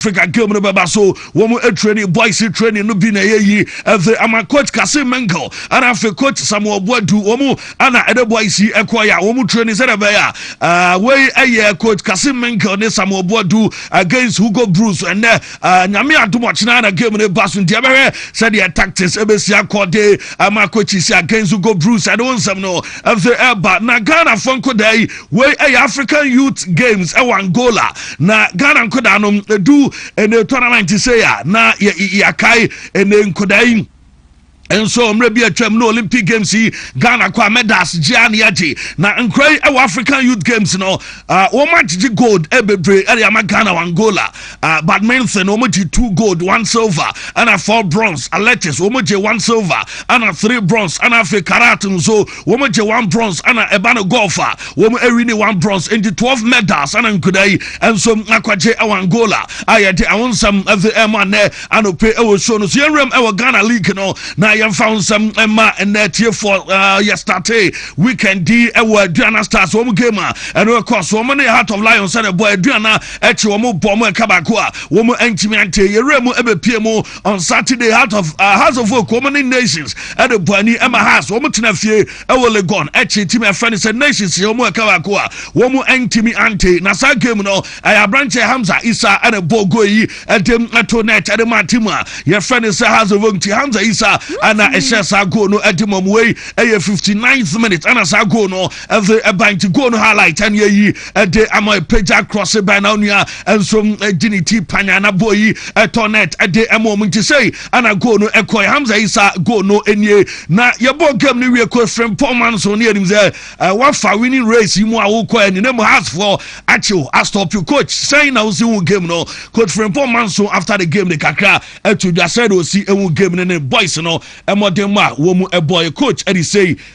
Africa game no bɛba so wɔn training boys training no bi na ɛyɛ yi ɛfɛ ama coach Kase Menkel ɛna afei coach Samuel Boadu wɔn ɛna ɛde boys yi ɛkɔ yɛ a wɔn training sɛdeɛ ɛbɛyɛ a wei ɛyɛ coach Kase Menkel ne Samuel Boadu against Hugo Bruce ɛnɛ nyame adum ɔkyena na game no ba so nti ɛbɛhwɛ sɛdeɛ tactics ɛbɛsi akɔ de ama coaches against Hugo Bruce ɛde wɔn nsɛm no ɛfɛ ɛba na Ghana fo nkodaa yi Wei yɛ African Youth Games wɔ Angola na Ghana nkodaa no ɛdu ɛnɛ tournament sei a na yɛakae ɛnɛ nkodaa yi nso mmerɛ bi atwam no Olympic Games yi Ghana kɔ a medals gyea ne agye na nkora yi wɔ African Youth Games no uh, wɔn agyegye gold bebree ɛde ama Ghana wɔ Angola uh, badminton wɔn gye two gold one silver ɛna four bronze athletics wɔn gye one silver ɛna three bronze ɛna afei karate nso Wɔn gye one bronze ɛna ɛba no golf a wɔn ɛwi ne one bronze nti twelve medals ɛna nkuda yi nso akwagye ɛwɔ Angola a yɛde ɛho nsɛm ɛde ɛma nnɛ anɔpɛ ɛwɔ show no so yɛn nwuram ɛwɔ Ghana league no na yɛn fa ho nsɛm ɛma nnɛ tiefoɔ ɛɛ yɛ starte weekend di ɛwɔ Aduana Stars wɔn game a ɛno ɛkɔ so wɔn ne Heart of Lions ɛna ɛbɔ Aduana ɛkyi wɔn bɔ wɔn ɛka baako a wɔn ɛntumi ante yɛn wura mu ɛbɛpie mu on Saturday, heart of uh, House of Folk, wɔn ne Nations at the Buani ɛma House, wɔn tena fie ɛwɔ Legon ɛkyi timi ɛfɛ ne sɛ Nations yɛ wɔn ɛka baako a wɔn ɛntimi ante na saa game no ɛyɛ aberanteɛ Hamza Isa ɛna bɔ goal yi ɛde ɛto net ɛde ma team a yɛfɛ ne sɛ House of Folk ti Hamza Isa ɛna ɛhyɛ saa goal no ɛde ma wɔn wei ɛyɛ 59th minute ɛna saa goal no ɛde ɛban ti goal no highlight ɛne ɛyi ɛde ama ɛpagya cross bɛn na onua ɛnso ɛgye ne ti panya na bɔ yi ɛtɔ net ɛde ɛma ɔmo nti sɛi ɛna goal no ɛkɔ Hamza Isa goal no ɛnie na yɛbɔ game no wie kɔ efirem pɔn man so ne yɛnim sɛ ɛwafa winning race yi mu a wokɔ ɛne ne mu hasfoɔ akyew astɔpi coach sɛn na wosi hu game no coach firim pɔn man so after the game ne kakra ɛto dwa sɛ de osi ehu game no ne boys no ɛmɔden mu a wɔn mu ɛbɔ yɛ coach ɛde sɛi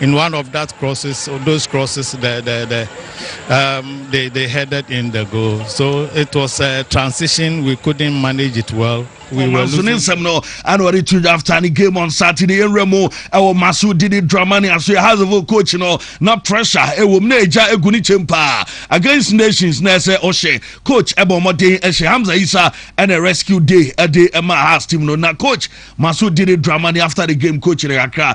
In one of that crosses, those crosses, the, the, the, um, they, they headed in the goal. So it was a transition. We couldn't manage it well. We were losing. nsɛm no ana ɔde tu after ne game on saturday ɛnwerɛ mu ɛwɔ maso di ne drama ne aso yɛ hazefo coach no na pressure ɛwɔ mu na ɛgya ɛgu ne kyɛm paa against nations na ɛsɛ ɔhyɛ coach ɛbɔ mmɔden ɛhyɛ hamza isa ɛna rescue day ɛde ɛma has team no na coach maso di ne drama ne after the game coach ne kakra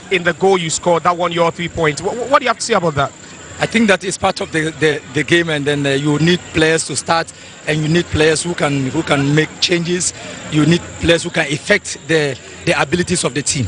in the goal you scored that won your three points. What, what do you have to say about that? I think that is part of the, the, the game, and then uh, you need players to start, and you need players who can who can make changes. You need players who can affect the the abilities of the team.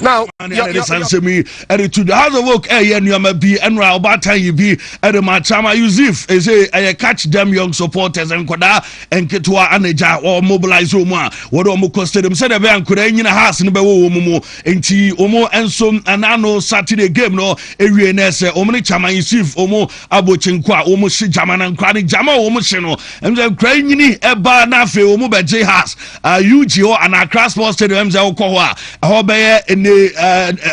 Now, ɛde sansɛm yi ɛde to the house of work ɛyɛ nneɛma bi ɛnura ɔbaatan yi bi ɛde ma chama yusuf ɛsɛ ɛyɛ catch them young supporters nkɔdaa nketewa anagya wɔn mobilize wɔn a wɔde wɔn kɔ stadium sɛdeɛ ɛbɛyɛ nkɔdaa nyina house no bɛwɔ wɔn mu Enti wɔn nso n'ano Saturday game no ewie na ɛsɛ wɔn ne Chaman yi sieve wɔn abo kyenko a wɔn hye gyama na nkora ne gyama a wɔn hye no ɛmsɛ nkora yi nyini ɛbaa na afei wɔn bɛgye has ug hɔ anaa Accra sports stadium ɛmsɛ wɔkɔ hɔ a ɛhɔ bɛyɛ ne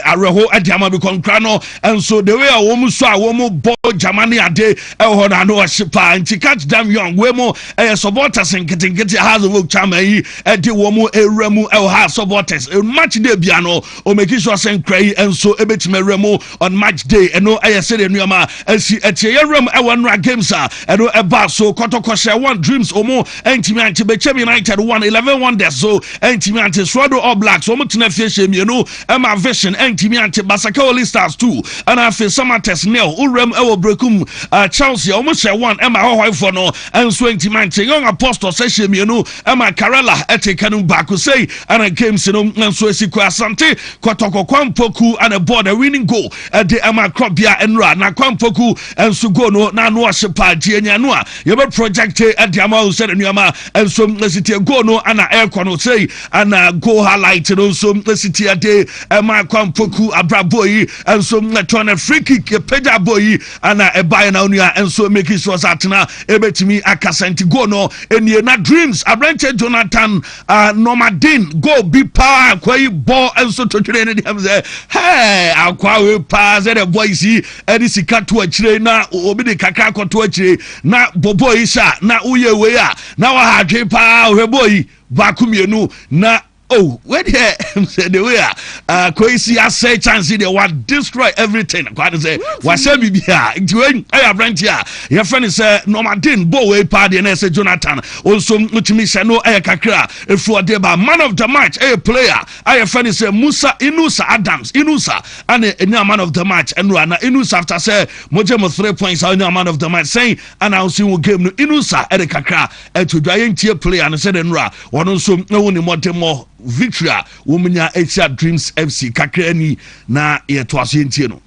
awerɛho ɛde ama bi kɔ nkora no nso the way a wɔn so a wɔn bɔ gyama ne ade ɛwɔ hɔ na ano ɔhye paa nti catch them young wei mo ɛyɛ supporters nketenkete has of Chaman yi ɛde wɔn awura mu ɛwɔ house of waters match day bia no ɔmɛki so asɛ nkura yi nso ɛbɛtumi awura mu on match day ɛno ɛyɛ sɛdeɛ nneɛma ɛsi ɛteɛ yɛwura mu ɛwɔ nnora games a ɛno ɛbaa so kɔtɔkɔhyɛ one dreams ɔmo ɛntumi ante bɛkyɛm united one eleven wonders so ɛntumi ante soado all blacks ɔmo tena fie hyɛ mmienu ɛma vision ɛntumi ante basaka holy stars two ɛna afei samates nil owura mu ɛwɔ brekum uh, chelsea ɔmo hyɛ one ɛma hɔhɔefoɔ no ɛnso ɛntumi ante young apostles ɛhyɛ mmienu Ɛma Karela te ka no mu baako sei ana games no nso asi kɔ Asante Kɔtɔkɔ Kwampɔku ana ɛbɔɔ the winning goal de ɛma Krɔbea Nnura na Kwampɔku nso goal no na ano ɔhye paa gye ɛnyɛ ano a yɛbɛ project de ama wo sɛ nnuama nso asi tie goal no ana ɛrekɔ no sei ana goal highlight no nso asi tie de ɛma Kwampɔku abrabɔ yi nso ɛtɔn free kick pagya bɔ yi Ana ɛbaeɛ na onua nso making sure sɛ atena ɛbɛtumi akasa nti goal no ɛnie na dreams aberanteɛ Jonathan uh, Nomadin goal bi paa akwa yi bɔ nso totwere ne deɛ sɛ hey akwa we paa sɛ the boys yi ɛde sika to akyire na obi de kakra akɔto akyire na bɔbɔ yi sa na woyɛ wei a na waha adwe paa ɔhwɛ bɔ yi baako mmienu na oh wei deɛ sɛ de wei a akɔyi si asɛe chance deɛ wa destroy everything kwa de sɛ wasɛ biribi a nti wei ɛyɛ aberante a yɛfrɛ ne sɛ nɔmaden bɔ wei paa deɛ na ɛsɛ jonathan ɔnso motumi hyɛ no ɛyɛ kakra ɛfu ɔde ba man of the match ɛyɛ player a yɛfrɛ ne sɛ musa inusa adams inusa ɛne ɛnya man of the match ɛnora na inusa after sɛ mogye mo three points a ɔnya man of the match sɛn ana ɔsi wo game no inusa ɛde kakra Atodwa yɛntie player no sɛdɛ nora wɔn nso ɛwɔ ne mmɔdemmɔ victory a wɔn nya ɛtia dreams fc kakra ni na yɛtoa so yɛntie no.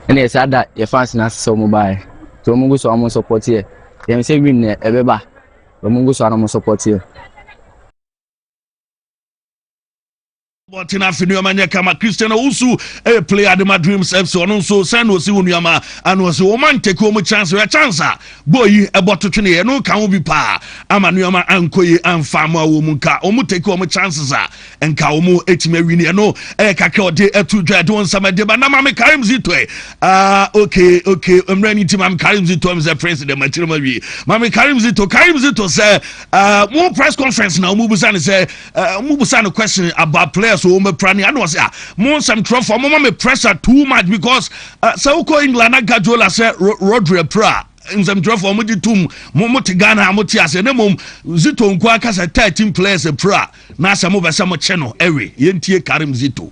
ɛne yɛ saa da yɛ fans no ase sɛ wɔn baeɛ nti wɔn gu so a wɔn support yɛ yɛn sɛ win na ɛbɛba wɔn gu so a na wɔn support yɛ. bɔten afe nneɛma nyɛ kama christian owusu ɛyɛ player de ma dreams fc ɔno nso sɛn na ɔsi wo nneɛma ana ɔsi wɔn ma ntɛki wɔn chance yɛ chance a bɔɔ yi ɛbɔ to twene yɛ no ka ho bi paa ama nneɛma ankɔ yi anfa ama wɔn mu nka wɔn tɛki wɔn chances a nka wɔn etimi awi ne ɛno ɛyɛ kakra ɔde ɛtu dwa ɛde wɔn nsɛm ɛde ba na maame karim zito ɛ aa ah, okay okay mmerɛ ni ti maame karim zito ɛmi sɛ prince dɛm akyerɛ ma wie maame karim zito karim zito sɛ ɛɛ ah, mo press conference na wɔn bu sa ne sɛ Uh, mo busa no question about players wɔ wɔn apira ne ano ɔsɛ a mo nsɛm twerɛfoɔ mo ma me pressure too much because uh, sɛ wokɔ England na Guardiola sɛ Rodri apira nsɛm twerɛfoɔ mo gye tum mo mo te Ghana a mo te aseɛ ne mmom Zito nko aka sɛ thirteen players apira na sɛ mo bɛ sɛ mo kye no ɛwe yɛntie Karim Zito.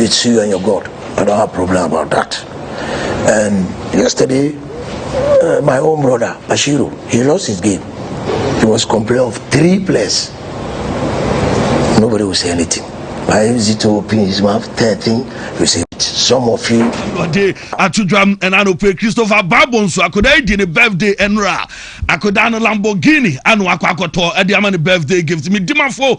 It's you and your God. I don't have problem about that. And yesterday, uh, my own brother Bashiru, he lost his game. He was complaining of three players. Nobody will say anything. Why is it open his mouth? Third thing, you say some of you. Ɔde atodwam ɛna no pe Christopher Babo nso akwadaa yi di ne birthday ɛnora akwadaa no Lamborghini ano akɔ akɔtɔ ɛde ama ne birthday gift mi dimafo.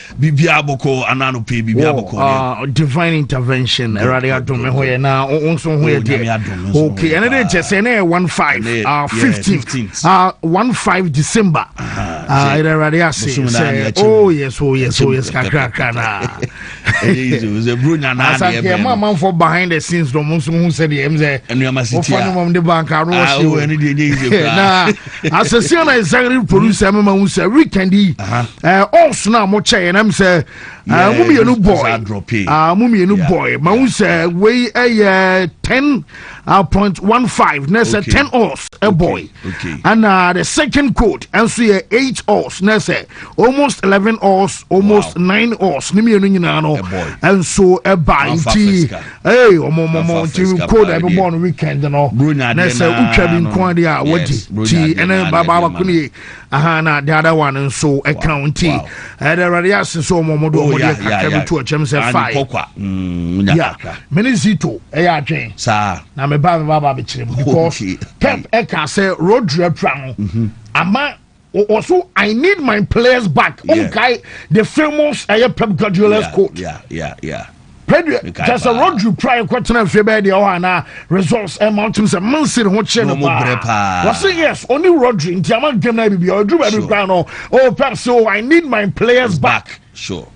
biribiara bɔkɔɔ ana anɔpɛ yi biribiara bɔkɔɔ deɛ ah, divine intervention awurade adom ɛho yɛ na wo nso ho yɛ oh, deɛ ok ɛne de kyɛ sɛ ɛnɛ yɛ 15 ah, 15 ah, 15 december ɛdɛ awurade ase sɛ oh yes oh yes oh yes kakrakra na asankeɛ ma amanfoɔ behind the scenes dɔm nso ho sɛdeɛ ɛm sɛ wofa no mam de banka no wɔhye na asɛsia na executive producer mema hu sɛ weekend yi ɔɔso no a mokyɛeɛ nam sɛ mo mmienu bɔe mo mmienu bɔe ma hu sɛ wei ɛyɛ 10 uh, point one five na ɛsɛ okay. ten hours ɛbɔe okay. and uh, the second code ɛnso yɛ eight hours na ɛsɛ almost eleven hours almost wow. nine hours ne mmienu nyinaa no ɛnso ɛba nti Hey, ọmọ ọmọ ọmọ nti code a ɛbɛbɔ no weekend no na sɛ wotwa bi nko ade a wagye ti ɛne babaaba ko ne aha na the other one nso ɛka wo nti ɛde awurade ase sɛ ɔmɔ ɔmɔde ɔmɔde kakra bi to ɔkyɛm sɛ fae ya mene zito ɛyɛ adwen na meba meba ba bɛkyerɛ mu because pep ɛka sɛ road repra no ama ɔso i need my players back wonkae the famous ɛyɛ pep guardiola's quote pɛdeɛ kyɛ sɛ rodri kora yɛkɔtena afie bɛyɛ deɛ ɔhɔ anaa results ɛma wotem sɛ mansiri ho kyerɛ no paa wɔse yes ɔne rodri nti ama game no abibia ɔduru baabi koraa no oh pep so i need my players back sure.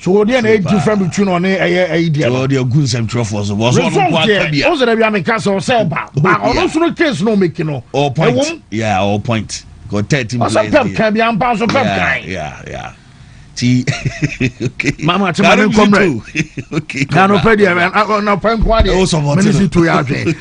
so wɔ deɛ na ɛyɛ different between ɔne ɛyɛ ɛyi deɛ no ɔde agu nsɛmtwerɛfoɔ so bɔsɔ ɔno nko aka bia ɔsɛ dɛ bia meka sɛ ɔsɛ ba oh, ba ɔno nso no case na ɔmɛki no ɔ point ɛwom yeah ɔ point kɔ thirty players ɔsɛ pɛp kan bia mpa nso pɛp kan yeah yeah ti okay mama ti ma ne nkɔ mmerɛ okay na nɔpɛ deɛ nɔpɛ nko adeɛ mene si to yɛ adwene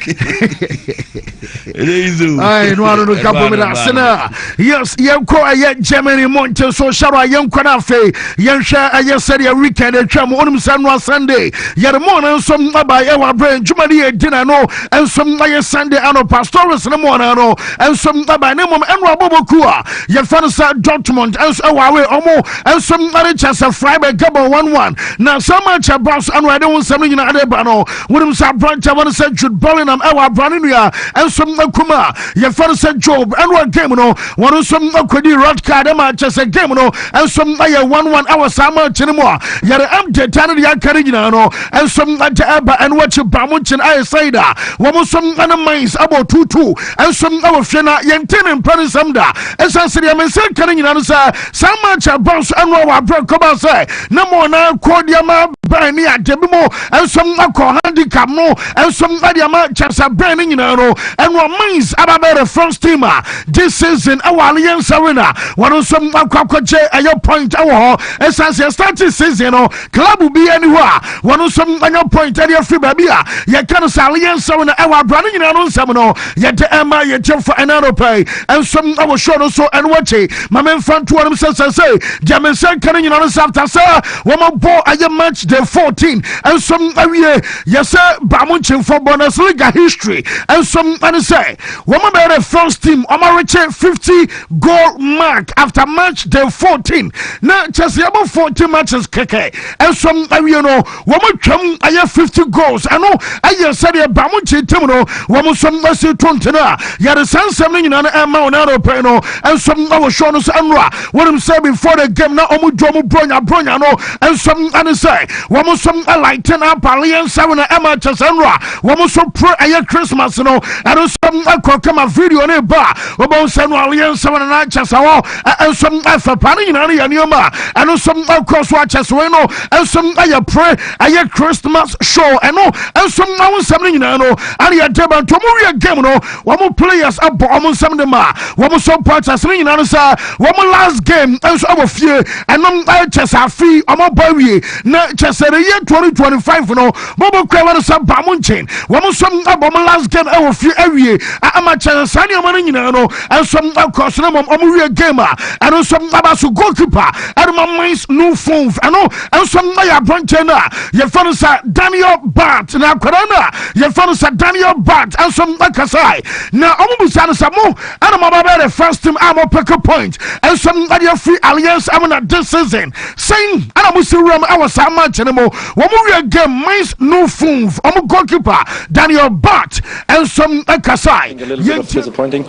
Ai, no ano no gabo me da sena. Yes, yɛnkɔ ɛyɛ Germany mo nkyɛn so hyɛrɛ a yɛnkɔ no afei yɛnhwɛ ɛyɛ sɛdeɛ weekend atwa mu wonim sɛ noa Sunday yɛde mo no nso aba ɛwɔ aberɛ adwuma no yɛ dina no nso ɛyɛ Sunday ano pastores no mo no no nso aba ne mmom ɛno abɔbɔ ku a yɛfa no sɛ Dortmund nso ɛwɔ awe ɔmo nso ɛde kyɛ sɛ Freiburg gabo 1-1 na sɛ match ɛba so ɛno ɛde wo nsɛm no nyinaa de ba no Wonim sɛ aberantɛ wɔne sɛ Jude Bellingham ɛwɔ abra ne nua nso akum a yɛfɛ no sɛ Job ɛne wɔ game no wɔn nso akɔdi red card ɛma akyɛ sɛ game no nso ayɛ 1-1 ɛwɔ saa match no mu a yɛde ɛm data no deɛ aka no nyinaa no nso agya ɛba ɛno akyi ba mo nkyen ayɛ sɛi da wɔn nso ɛne mines abɔ tutu nso ɛwɔ fie na yɛnte ne mpɛ ne nsɛm da ɛsiane sɛ deɛ mensa ka no nyinaa no sɛ saa match ɛba nso ɛno a wɔ aberɛ nkɔba sɛ na mo ɔnaa kɔɔ deɛ ma bɛn ne adeɛ bi mu nso kɔ handicap no nso de ama kyɛsɛ bɛn no nyinaa no ɛno mines aba bɛ reference team a this season ɛwɔ alliance arena wɔn nso akɔ akɔgye ɛyɛ point ɛwɔ hɔ ɛsan sɛ starting season no club bi ani hɔ a wɔn nso anya point ɛde afiri baabi a yɛka no sɛ alliance arena ɛwɔ abira no nyinaa no nsɛm no yɛde ɛma yɛ kyɛfo ɛna no pɛɛ nso ɛwɔ show no so ɛno akyi ma memfa ntoɔ no sɛ sɛ sɛ deɛ me nsɛ nka no nyinaa no sɛ after sɛ Wɔma bɔ ayɛ match day fourteen nso awie yɛ sɛ baamu nkyɛnfo Bundesliga history nso ɛne sɛ wɔma bɛyɛ dɛ France team wɔma rekye fifty goal mark after match day fourteen na kyɛ sɛ yɛbɔ forty matches kɛkɛ nso awie no wɔn twam ayɛ fifty goals ɛno ɛyɛ sɛdeɛ baamu nkyɛntɛm no wɔn nso ɛsi to ntene a yɛde saa nsɛm no nyinaa no ɛma wɔn anɔpɛ no nso ɛwɔ show no so ɛnora Wonim sɛ before the game na ɔmo dwa ɔmo bronya bronya no nso ɛne sɛ wɔn nso lighten up aliensa wena ɛma kyɛ sɛ nnora wɔn nso pro ɛyɛ Christmas no ɛno nso ɛkɔ kama video ne ba wɔbɛn sɛ no aliensa wena na kyɛ sɛ hɔ nso ɛfɛ paa ne nyinaa no yɛ nneɛma ɛno nso ɛkɔ so akyɛ sɛ wei no nso ɛyɛ pre ɛyɛ Christmas show ɛno nso ɛho nsɛm no nyinaa no ɛne yɛ deba ntomo wie game no Wɔn players bɔ wɔn nsam de ma wɔn nso bɔ kyɛ sene nyinaa no sɛ wɔn last game nso wɔ fie ɛnom kyɛ sɛ afe wɔn bɔ awie na kyɛ sɛ the year 2025 no wɔn kura wɔn sɛ ba mo nkyɛn wɔn nso bɔ wɔn last game wɔ fie awie ama kyɛ sɛ saa nneɛma no nyinaa no nso kɔ so na wɔn wɔn wie game a ɛno nso aba so goalkeeper ɛno ma mines no phone ɛno nso yɛ abɔnten no a yɛfɛ no sɛ Daniel Bart na akwadaa no a Yɛmfa no sɛ Daniel Bard nso kasae, na wɔbisaa no sɛ, Mo na moaba abɛyɛ the first team a mopeke point nso de afiri Allianz mu na this season, sɛn na mosi wuram wɔ saa match no mu? Wɔwiee game Mainz 05, wɔn goalkeeper Daniel Bard nso kasae. A little bit of disappointing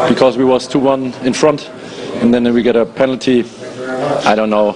because we was 2-1 in front and then we get a penalty. I don't know.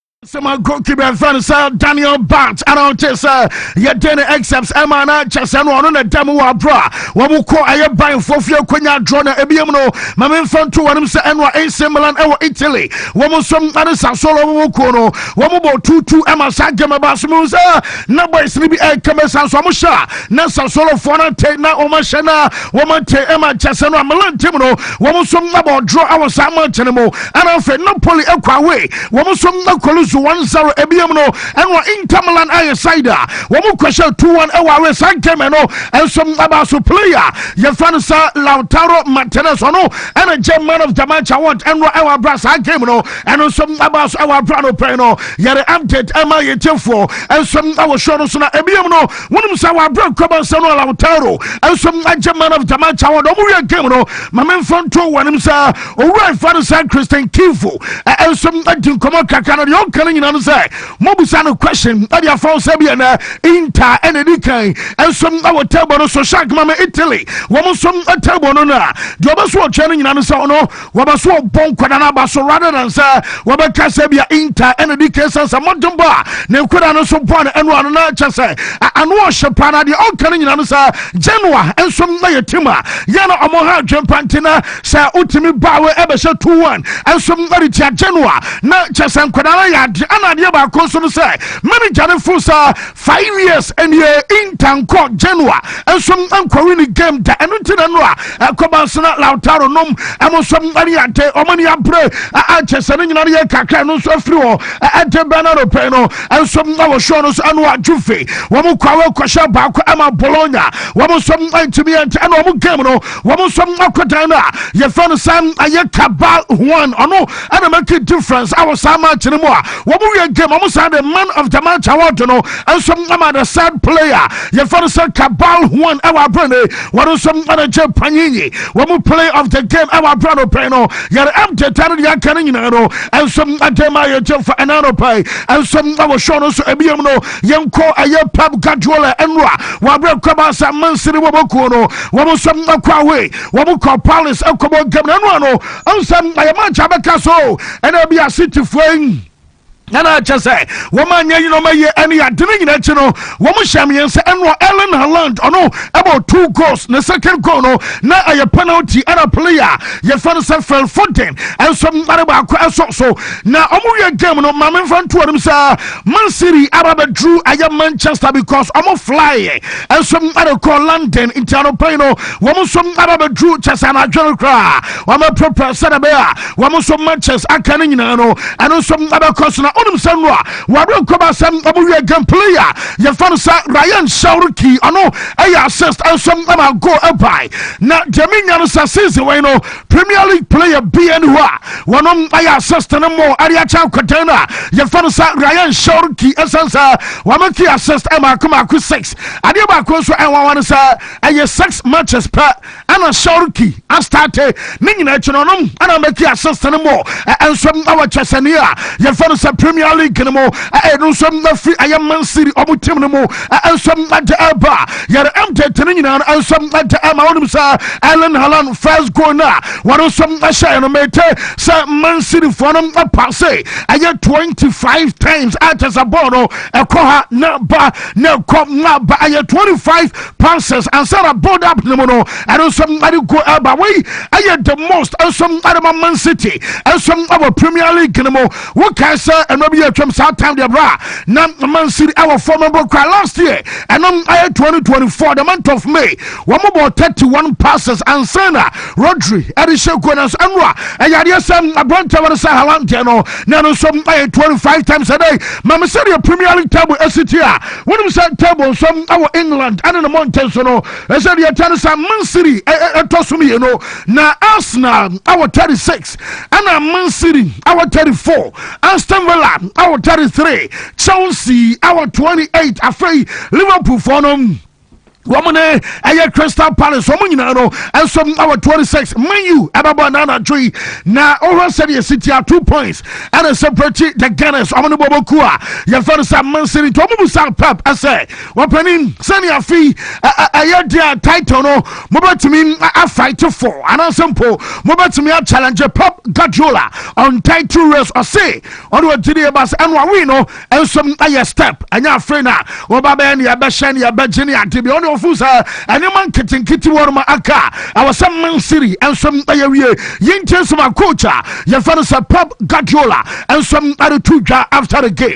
sɛma goalkeeper ɛfɛ no sɛ daniel bant ana wote sɛ yɛde ne exams ɛma na kyɛ sɛ no ɔno na ɛda mu wɔ aberɛ a wɔmokɔ ɛyɛ banfoɔ fie kɔnya adorɔ no ebiam no ma memfa nto wɔnom sɛ ɛno a ɛnse milan ɛwɔ italy wɔm nso ane sasolo wɔmo kuo no wɔmobɔ tutu ɛma saa game ba so mehu sɛ na boys no bi ɛkɛmɛ san so ɔmohyɛ a na sasolofoɔ no ntɛ na wɔmahyɛ no a wɔmante ɛma kyɛ sɛ no a milan tim no wɔm nso nabɔ ɔdorɔ awɔ saa match no mu ana afei napoli ɛkɔ away wɔn nso na kɔlusu wɔn zero ebien no ɛna Inter Milan ayɛ side a wɔn kɔhyɛ two one ɛwɔ awɛ saa game no nso ɛbaa so player yɛfa no sɛ Lautaro Martinez ɔno ɛna gye man of the match award ɛno ɛwɔ abira saa game no ɛno nso ɛbaa so ɛwɔ abira no pɛn no yɛde update ɛma yɛ tiɛfoɔ nso ɛwɔ show no so na ebien no wɔn nso ɛwɔ abira kɔba nsa no Lautaro nso ɛgye man of the match award wɔn wiɛ game no maame nfa nto wɔn nsa. owura efa no sɛ christian kifo nso di nkɔmɔ kakra no deɛ ɔka no nyina no sɛ mobusa no question ɛde afa wo sɛ bi ɛnɛ inter ɛna ɛdi kan nso wɔ table no so shark ma me italy wɔn nso table no no a deɛ ɔbɛ so ɔtwɛ no nyina no sɛ ɔno wɔbɛ so ɔbɔ nkwadaa no aba so rather than sɛ wɔbɛka sɛ bia inter ɛna ɛdi kan sɛ sɛ mmɔden bɔ a ne nkwadaa no nso bɔ no ɛno ano na ɛkyɛ sɛ ano ɔhyɛ paa na deɛ ɔka no nyina no sɛ genoa nso yɛ tim a yɛ na ɔmo ha adwempa nti na Sɛ wotumi baa wei ɛbɛhyɛ two one nso mmeri tia Genoa na kyɛ sɛ nkwadaa no yɛ ade ɛna adeɛ baako nso no sɛ manager no fo sɛ five years ɛneɛ Inter nkɔ Genoa nso nkɔwi ne game da ɛno nti na no a ɛkɔba nso na Lautaro nom ɛmo nso ɛne yɛ ade ɔmo ne abere ɛkyɛ sɛ ne nyina no yɛ kakra no nso afiri hɔ ɛde bɛn na no pɛn no nso ɛwɔ show no nso ɛno a Juve wɔn kɔ awɔ kɔhyɛ baako ɛma Bologna wɔn nso ɛntumi ɛnti ɛna wɔn game no wɔn nso akɔ dan no a yɛfrɛ no sɛ ɛyɛ kaba huan ɔno ɛna make a difference awɔ saa match no mu a wɔn wie game wɔn saa de man of the match award no nso ama the third player yɛfrɛ no sɛ kaba huan ɛwɔ abere ne wɔn nso ɛna gye panyinyi wɔn play of the game ɛwɔ abere no pɛn no yɛrɛ ɛm de ta no deɛ aka no nyinaa no nso ɛde ma yɛ gye fa ɛna no pɛn nso ɛwɔ show no nso ebiem no yɛnkɔ ɛyɛ pep guardiola ɛno a wɔabrɛ kwaba sɛ mansini wɔbɔkuo no wɔn nso akɔ awe wɔn kɔ palace akɔbɔ game no ɛno a no nsɛm ɛyɛ match abɛka so ɛna bi asitifoɔ yi ɛna kyɛ sɛ wɔn a nyɛ yinom ayɛ ɛne ade no nyinaa akyi no wɔn hyɛ mmiɛnsa ɛno Erling Haaland ɔno ɛbɔ two goals ne second goal no na ɛyɛ penalty ɛna player yɛfɛ no sɛ Phil Foden ɛnso mmare baako ɛso so na wɔn wie game no maame nfa ntoɔ no saa. Man City aba bɛduru ɛyɛ Manchester because wɔn fly nso ɛde kɔ London nti anɔpa yi no wɔn nso aba bɛduru kyɛ sɛ anadwo no koraa wɔn apɛpɛ sɛdeɛ bɛyɛ a wɔn nso matches aka no nyinaa no ɛno nso ɛbɛkɔ so na wonim sɛ no a wɔawerɛ nkɔba sɛ wɔn wie game player yɛfa no sɛ Ryan Shawriki ɔno ɛyɛ assist nso ɛma goal ɛbae na deɛ menya no sɛ season wei no Premier League player bi ɛne hɔ a wɔnom ayɛ assist no mmɔ ɛde akyɛ akwadan no a yɛfa no sɛ Rayan Shawki ɛsan sɛ wɔn ki assist mako mako six adeɛ baako nso ɛnwanwa no sɛ ɛyɛ six matches pɛ ɛna Shawki astate ne nyinaa akyi no ɔnom ɛna mɛki assist no mmɔ ɛnso ɛwɔ kyɛsɛne a yɛfa no sɛ Premier League no mu ɛno nso ɛfiri ɛyɛ Man City ɔmo team no mu nsɛm de ba yɛre mtete no nyinaa no nsɛm de ma wonim sɛ Erling Haaland first goal no a wɔno nso hyɛɛ no mete sɛ Man Cityfoɔ no paase ɛyɛ 25 times a kyɛ sɛ bɔɔl no ɛkɔ ha na ba na ɛkɔ na ba ɛyɛ 25 passes ansa na build up no mu no ɛno nso ɛde go ɛba wei ɛyɛ the most nso ɛde ma Man City nso ɛwɔ Premier League no mu Wokae sɛ mmerɛ bi yɛ atwam saa time deɛ berɛ a na man city ɛwɔ fam mpo kora last year ɛno ayɛ 2024 the month of May wɔn bɔɔ 31 passes ansa na Rodri ɛde hyɛ goal nanso ɛno a ɛyɛ adeɛ sɛ aberantɛ wɔn sɛ Haaland deɛ no na ɛno nso ayɛ 25 times a day ma me sɛdeɛ Premier League table ɛsi ti a wonim sɛ table nso ɛwɔ England ɛne ne mmɔnten so no ɛsɛ deɛ ɛkyɛ no sɛ man city ɛtɔ so mmienu na Arsenal ɛwɔ 36 ɛna Man City awɔ 34, Aston Villa awɔ 33, Chelsea awɔ 28. Afei Liverpool fɔ no wɔn ne ɛyɛ Crystal Palace wɔn nyinaa no nso ɛwɔ twenty six Man U ɛbɛbɔ ɛna anadwo yi na ɔhwɛ sɛdeɛ sitia two points ɛna separate the Gunners wɔn ne bɔbɔ ku a yɛfɛ no sɛ Man City nti wɔn mu sa Pep ɛsɛ Ɔpanin, sɛnea afe yi ɛyɛ deɛ title no mobɛtumi afight for anaasɛ mpo mobɛtumi achallenge Pep Guardiola on title race ɔse ɔne ɔgyedeɛ ba sɛ ɛno awe no nso ayɛ step ɛnyɛ afei no a wɔba bɛyɛ ne yɛbɛhyɛ ne yɛbɛgye ne ade bi ɔne ɔfo sɛ ɛnneɛma nketenkete wɔ no ma aka a ɛwɔ sɛ Man City nso ɛyɛ wie yɛntie nso ma coach a yɛfɛ no sɛ Pep Guardiola nso ɛreto dwa after the game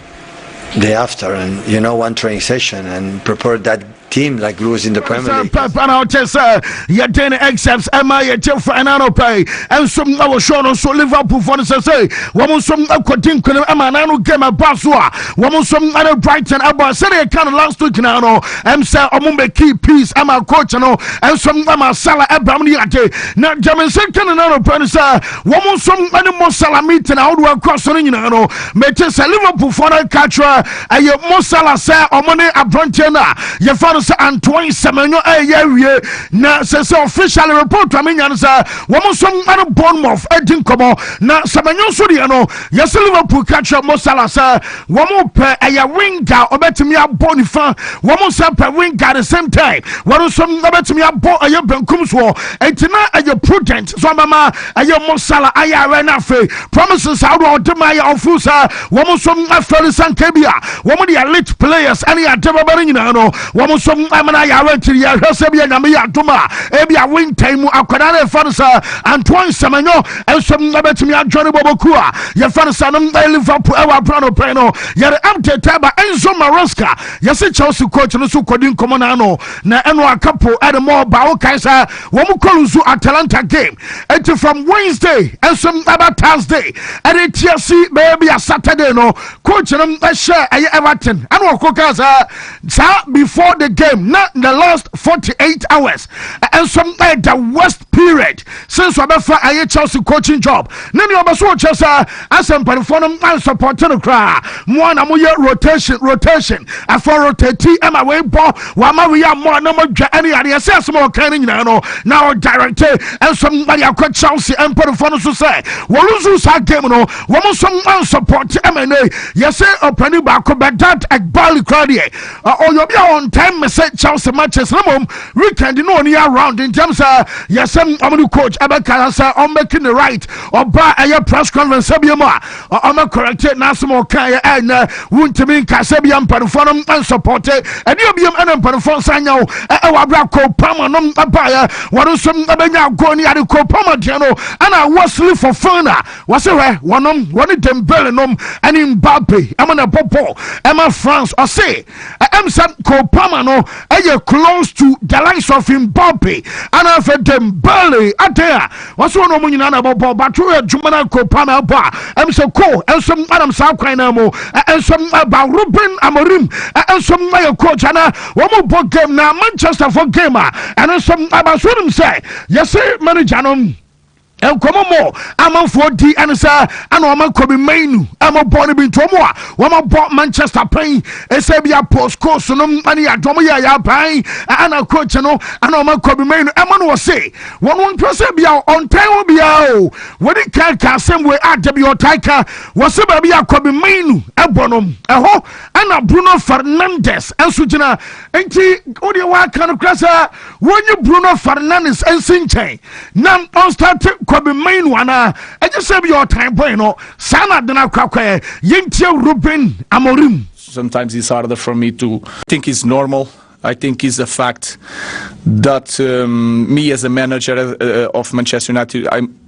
Thereafter, and you know, one training session and prepare that team like Blues in the Premier League. yɛden exams ɛma yɛgye final no pɛi ɛnso na wɔhwɛ no nso liverpool fɔ no sɛ sɛ wɔm nso akɔdi nkonim ɛma na no game ɛba so a wɔm nso ɛne brighton ɛbɔ sɛdeɛ ɛka no last week na no ɛm sɛ ɔmo mɛki peace ɛma coach no ɛnso ɛma sala ɛbram no yɛade na gyame sɛ kane no no pɛ no sɛ Wɔn nso ne Mo Salah meeting ahodoɔ ɛkɔ so no nyinaa no mete sɛ Liverpool foɔ no ka kyerɛ ɛyɛ Mo Salah sɛ wɔn ne aberanteɛ no a yɛfa no sɛ Antoine Semenyo ɛyɛ awie na sɛ sɛ official report a menya no sɛ wɔn nso ne Bournemouth adi nkɔmmɔ na Semenyo nso deɛ no yɛsɛ Liverpool ka kyerɛ Mo Salah sɛ Wɔn pɛ ɛyɛ winger ɔbɛtumi abɔ nifa wɔn nsa pɛ winger the same time wɔn nso ɔbɛtumi abɔ ɛyɛ benkum soɔ eti na ɛyɛ prudent so ɔbɛma ɛyɛ mosala ayɛ awɛ na afei promises ahodoɔ a ɔde ma yɛ ɔfo sɛ wɔn nso afɛli sanke bi a wɔn de elite players ɛne ade bɛbɛ no nyinaa no wɔn nso ɛmena ayɛ awɛ ntiri yɛ hwɛ sɛ bi yɛ nyame yɛ adum a ebi a winter mu akwadaa na efa no sɛ antoa nsɛmɛnyɔ nso bɛtumi adwane bɔbɔkuo a yɛfɛ no sɛ no ɛyɛ liverpool ɛwɔ abena no pɛn no yɛde update ɛba enzo maresca yɛse chelsea coach no so kɔdi nkɔmmɔ no ano na ɛno akapo ɛde ma ɔba wokae sɛ wɔn kɔlu nso atalanta game ɛti from wednesday nso ɛba thursday ɛde tia si bɛyɛ bi a saturday no coach no ɛhyɛ ɛyɛ everton ɛna ɔkɔ kaa sɛ saa before the game na the last 48 hours ɛnso ɛyɛ the worst period Since ɔbɛfa ɛyɛ Chelsea coaching job ne nea ɔbɛso ɔkyerɛ sɛ asɛ mpanyinfoɔ no ansɔpɔte no koraa moa na moyɛ rotation rotation afɔ rotati ɛma wei bɔ wama wei ammɔ na modwa ɛne yadeɛ sɛ asɛm a ɔkan no nyinaa no na ɔdirecte nso mmade akɔ Chelsea mpanyinfoɔ no so sɛ wɔluzu saa game no wɔn nso ansɔpɔte ɛma ɛnɛ yɛsɛ ɔpani baako Bedat Egbali koraa deɛ ɔyɛ obi a ɔntaa mmɛsɛ chelsea matches na mmom weekend na ɔni around ntam sɛ yɛsɛm ɔmo ne coach ɛbɛka sɛ ɔmbɛki ne right ɔba ɛyɛ press conference sɛ bia mu a ɔmɛ correcte n'asɛm ɔka yɛ ɛnɛ wontumi nka sɛ bia mpanimfoɔ nom nsɔpɔte ɛne obiam ɛna mpanimfoɔ nsa nyɛ wo ɛwɔ abere a kopama nom ɛbaeɛ wɔn nso ɛbɛnya agorɔ ne ade kopama deɛ no ɛna wɔ sili fɔfana Wɔse hwɛ wɔnom, wɔne Dembele nom ɛne Mbappe ɛmo na ɛbɔ bɔɔl ɛma France. Ɔse ɛm sɛ Cole Palmer no ɛyɛ close to the likes of Mbappe ana afɛ Dembele. Adɛn a wɔse wɔne wɔn nyinaa na ɛbɔ bɔɔl but woyɛ adwuma na Cole Palmer ɛbɔ a ɛm sɛ Cole ɛnso ɛnam saa kwan na ɛmo ɛnso ɛba Ruben Amorim ɛnso ɛyɛ coach ana wɔn bɔ game na Manchester for game a ɛno nso ɛba so wɔnim sɛ yɛse manager nom. Nkɔmɔ mɔ amanfoɔ di ɛne sɛ ɛna ɔma Kobe Mainu ɛmɔ bɔ ne bi nti ɔmo a wɔma bɔ Manchester pɛn ɛsɛ bi a Paul Scholes no ɛne yɛ adwɔmo yɛ yɛ aban ɛna coach no ɛna ɔma Kobe Mainu ɛmɔ no ɔse wɔn wɔn pɛ sɛ bi a ɔntan hɔ bi a o wɔde kan ka asɛm wei a da bi ɔtan ka wɔse baabi a Kobe Mainu ɛbɔ no ɛhɔ ɛna Bruno Fernandes ɛnso gyina Enti wo deɛ woaka no kora sɛ wɔnyi Bruno Fernandes nsi nkyɛn na ɔnstate Kobbie Mainoo anaa ɛnyɛ sɛ bi ɔtan bɔn no saa na adena kwakwɛ yɛntie Ruben Amorim. Sometimes it's harder for me to think it's normal I think it's a fact that um, me as a manager uh, uh of Manchester United, I'm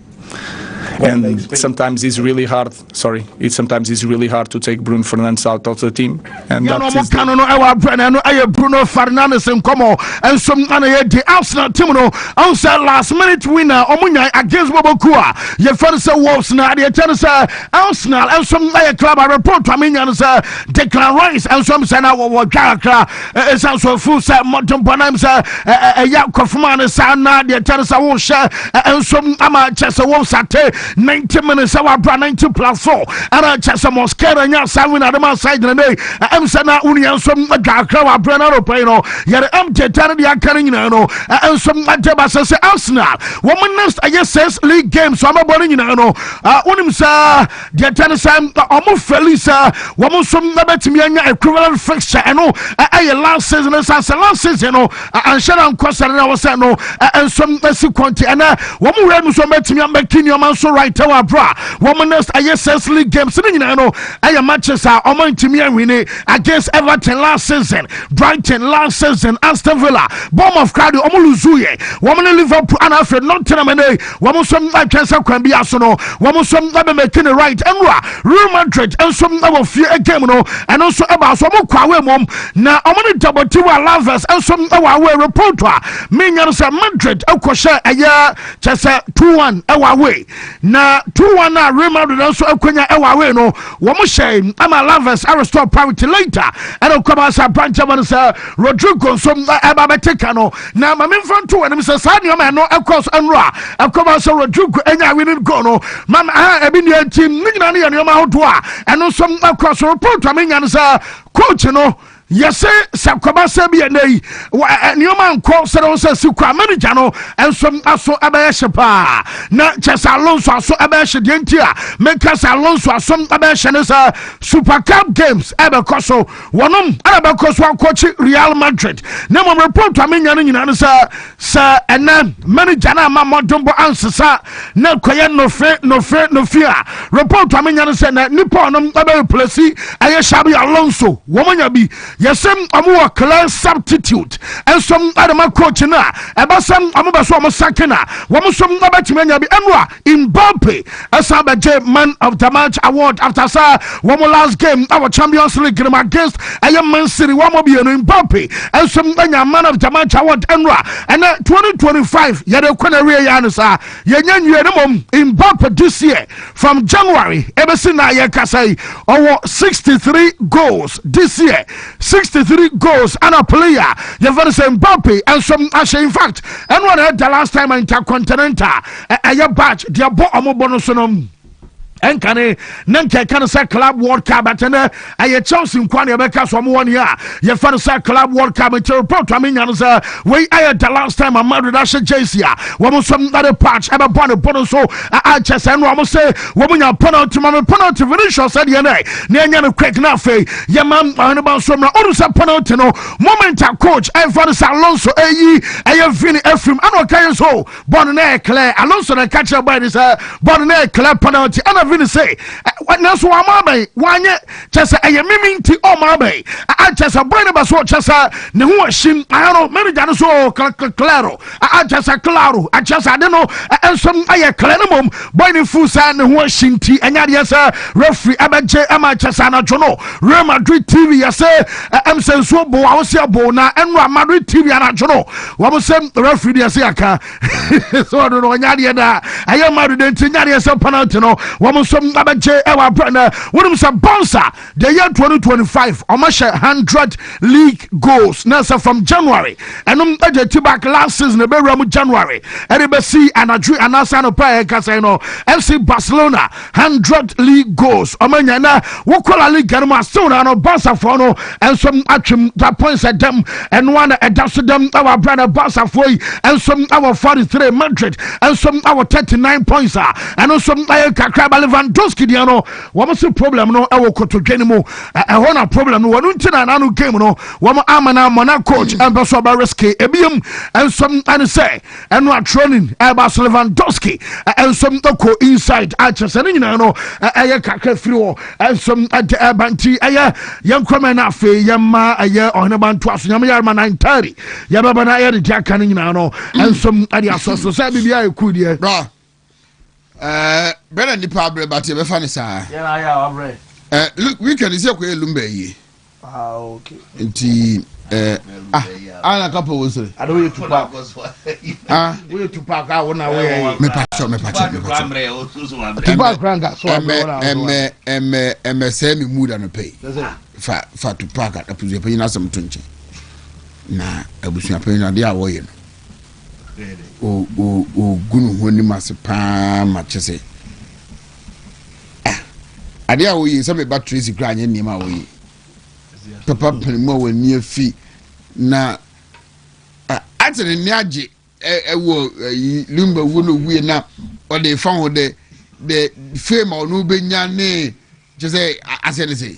and sometimes it's really hard. Sorry, it sometimes it's really hard to take Bruno Fernandes out of the team. And yeah, that no, is the... no, ɛwɔ Bruno, ɛyɛ Bruno Fernandes nkɔmɔ, ɛnso ɛna yɛ di Arsenal team no, ɔn sɛ last minute winner, ɔmo nya against Boboku a, yɛ fɛn sɛ Wolves na adeɛ kyɛn sɛ Arsenal, ɛnso ɛyɛ club a report to ame nya no sɛ Declan Rice, ɛnso ɛm sɛ na wɔwɔ dwa kakra. ɛsiane so ɛfiri sɛ mmɔdenbɔ no m sɛ ɛyɛ nkɔfoma no saa na deɛ kyɛ no sɛ wohyɛ nsom ama kyɛ sɛ wo sate 90 minutes sɛ woadora 90 plus so ɛna kyɛ sɛ moscara nya saa win adema saa gyinanei ɛm sɛ na wonua nsom adwakra wɔ aberɛ no anɔpa yi no yɛde ɛm teta no deɛ aka no nyinaa no nsom agye ba sɛ sɛ arsenal wɔn next ɛyɛ six league games wɔn abɔ no nyinaa no wonim sɛ Deɛ kyɛ no sɛ wɔn fɛli sɛ wɔn nso bɛtumi anya equivalent fixture ɛno ɛyɛ last season no san sɛ last season no anhyɛ na nkɔ sɛ na wɔsɛ no nso ɛsi kɔnti ɛnɛ wɔn wura mu nso bɛtumi amɛki nneɛma nso right ɛwɔ aburo a wɔn next ɛyɛ six league games ne nyinaa no ɛyɛ matches a wɔn ntumi awini against Everton last season Brighton last season Aston Villa Bournemouth crowd wɔn luzu yɛ wɔn ne Liverpool and afei Nottingham ɛnɛ Wɔn nso retwɛn sɛ kwan biara so no, wɔn nso bɛmɛki ne right. Nwura Real Madrid nso wɔ fie game no, ɛno nso ɛbaa so wɔn kɔ away mmom, na wɔn ne Deportivo Alaves nso wɔ away. Report a menya no sɛ Madrid kɔhyɛ ɛyɛ kyɛ sɛ two one wɔ away, na two one a Real Madrid nso akonya wɔ away no, wɔn hyɛ ama Alaves arestore parity later ɛna kɔba sɛ apankyɛ wɔn sɛ Rodrygo nso ɛba bɛte ka no. Na ma memfa nto w'anim sɛ saa nneɛma ɛno ɛkɔɔ so nnora a ɛkɔba sɛ Rodrigo anya winning goal no ma me aha ebi nea nti ne nyinaa no yɛ nneɛma ahodoɔ a ɛno nso ɛkɔɔ so report a menya no sɛ coach no yɛse sɛ kɔba sɛ bi ɛnɛ yi nneɛma nkɔ sɛ no sɛ si kɔ a manager no nso aso ɛbɛyɛ hye paa na kyɛ sɛ alonso aso ɛbɛyɛ hye deɛ nti a meka sɛ alonso aso ɛbɛyɛ hye ne sɛ super cup games ɛbɛkɔ so Wɔnom na bɛkɔ so akɔkye Real Madrid na mmom report a menya no nyinaa ne sɛ sɛ ɛnɛ manager no ama mmɔdenbɔ ansesa na ɛkɔyɛ nofe nofe nofe a report a menya no sɛ na nipa ɔnom bɛreplɛsi ɛyɛ Xabi Alonso wɔn nya bi yɛsɛ wɔn wɔ clear substitute nso ɛde ma coach no a ɛbɛsɛ wɔn bɛ so wɔn sakin a wɔn nso bɛtumi anya bi ɛno a Mbappe san bɛgye man of the match award after sɛ wɔn last game wɔ Champions League no mu against ɛyɛ Man City wɔn mmienu. Mbappe nso anya man of the match award nnora. Ɛnɛ 2025 yɛde rekɔ n'awie yɛ ano saa yɛnyɛ nwie no mmom. Mbappe this year from January ebesi na yɛkasa yi ɔwɔ 63 goals this year 63 goals ana player yɛfɛ no sɛ Mbappe nso ahyɛ in fact ɛno na ɛda last time intercontinental ɛyɛ badge deɛ bɔ ɔmo bɔ no so no ɛnka ne ne nka ɛka no sɛ club world cup ɛtɛ nɛ ɛyɛ chelsea nkwa ne ɛbɛka so ɔmo wɔ ne a yɛfɛ no sɛ club world cup nti report a menya no sɛ wei ɛyɛ the last time a madrid ahyɛ jersey a wɔn nso nade patch ɛbɛbɔ ne bɔ no so akyɛ sɛ no ɔmo se wɔn nya penalty ma me penalty vinicius sɛdeɛ nɛ ne ɛnyɛ no quick na afei yɛma ɔhene ba nso mmerɛ ɔno sɛ penalty no moment a coach ɛmfa no sɛ alonso ɛyi ɛyɛ vini afirim ɛna ɔka yɛ so Bɔɔl no na ɛyɛ clear. Alonso na ɛka kyerɛ bɔɔl no sɛ bɔɔl no na ɛyɛ clear penalty. Ɛna Vini sɛ nanso wɔn ama abɛn wɔanyɛ kyɛ sɛ ɛyɛ mimi nti ɔma abɛn. Akyɛ sɛ bɔɔl no bɛ so kyɛ sɛ ne ho ahyim. Ayɛ no manager no so claro. Akyɛ sɛ claro akyɛ sɛ ade no nso ɛyɛ clear no mom bɔɔl no fu sɛ ne ho ahyim nti ɛnyɛ adeɛ sɛ referee ɛbɛgye ɛma kyɛ sɛ anadwo no Real Madrid TV yɛsɛ ɛm sɛ nsuo bo a wɔsi ɛbo na ɛnura Madrid TV anadwo no Wɔn sɛ referee deɛ sɛ yɛaka sɛ ɔno no ɔnyɛ adeɛ daa ɛyɛ ma adeɛ nti nyɛ adeɛ sɛ penalty no wɔn nso abɛgye ɛwɔ abrɛ no wonim sɛ bonsa deɛ yɛ 2025 ɔmahyɛ 100 league goals na sɛ from January ɛnom ɛgye ti back last season ɛbɛwura mu January ɛde bɛsi anadwo anaasɛ anɔpa a ɛkasa no FC Barcelona 100 league goals ɔmo anya na wokɔ la liga no mu asew na no basafoɔ no nso atwem da points ɛdɛm ɛnoa na ɛda so dɛm ɛwɔ abira na basafoɔ yi nso ɛwɔ 43 madrid nso ɛwɔ 39 points a ɛno nso ɛyɛ kakra ba lewandowski deɛ no wɔn se problem no ɛwɔ kotodwe no mu ɛhɔ na problem no wɔn nti na n'ano game no wɔn ama na mɔna coach ɛmpɛ so ɔbɛ risk ebiem nso ɛne sɛ ɛno a training ɛba so lewandowski nso kɔ inside akyɛ sɛ ne nyinaa no ɛyɛ kakra firi hɔ nso ɛde ɛba nti ɛyɛ yɛn nkurɔmɛ no afei yɛma ɛyɛ ɔhene ba ntoa so nyame yɛrema na ntari yɛbɛba no ɛyɛ de de aka no nyinaa no nso ɛde asɔ so sɛ biribiara ɛku deɛ ɛɛ bɛn na nipa abrɛ ba te bɛfa ne saa. yɛn ayɛ a wabrɛ. ɛɛ weekend sɛ kɔ yɛ lumba yie. ah ok. nti ɛɛ ah ana kapa wɔn sere. ade woyɛ tu paak ah woyɛ tu paak a wɔn na wɔyɛ yɛ. mepa kyɛw mepa kyɛw mepa kyɛw. tu paak kura nka so abrɛ wɔn a wɔn. ɛmɛ ɛmɛ ɛmɛ sɛ mi mu da no pɛ yi fa fa tu paak apusu yɛ pɛ yi na asɛm to nkyɛn na abusuapɛn no adeɛ a wɔyɛ no ɔgu ne ho anim ase paa ma kyɛ sɛ ah, adeɛ a wɔyɛ sɛ meba tracy koraa anyɛ nneɛma a wɔyɛ papa pene mu a wɔani afi na ah, ate ne nne agye ɛwɔ limba wuo no wuie na ɔde fa ho dɛ dɛ fame a ɔno bɛnya ne kyɛ sɛ asɛ ne sɛ